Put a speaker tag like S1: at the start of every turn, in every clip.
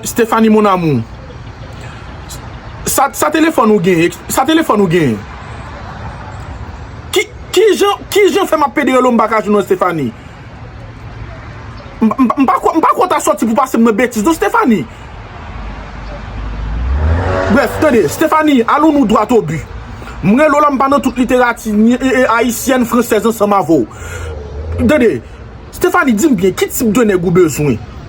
S1: Stephanie mon amour Sa telefon ou gen Sa telefon ou gen Ki jan fè m ap pede rele w m pa ka jwenn w Stephanie M pa kwè w ta sòti pou pase m nan betiz non Stéphanie. Brèf, tande, Stéphanie, alon nou dwat o bi. M rele w la m pa nan tout literati ayisyèn, fransèz ansanm avè w. Tande, Stéphanie, di m byen, ki tip de nèg ou bezwen?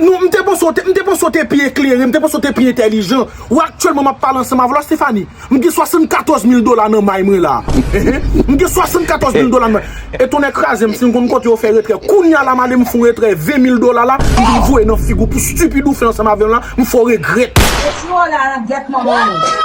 S1: M te panse w te pi eklere, m te panse w te pi entelijan. Ou aktyèlman m ap pale ansanm avè w la Stéphanie. M gen 74 mil dola nan may mwen la. M gen 74 mil dola nan may mwen. E tonnè kraze m si m konn kote yo fè retrè. Kounya la m ale m fè yon retrè 20 mil dola la, m vin voye nan figi w pou stupid ou fè ansanm avè m la, m fè w regrèt. E ti wè w la lan gyèt manman w.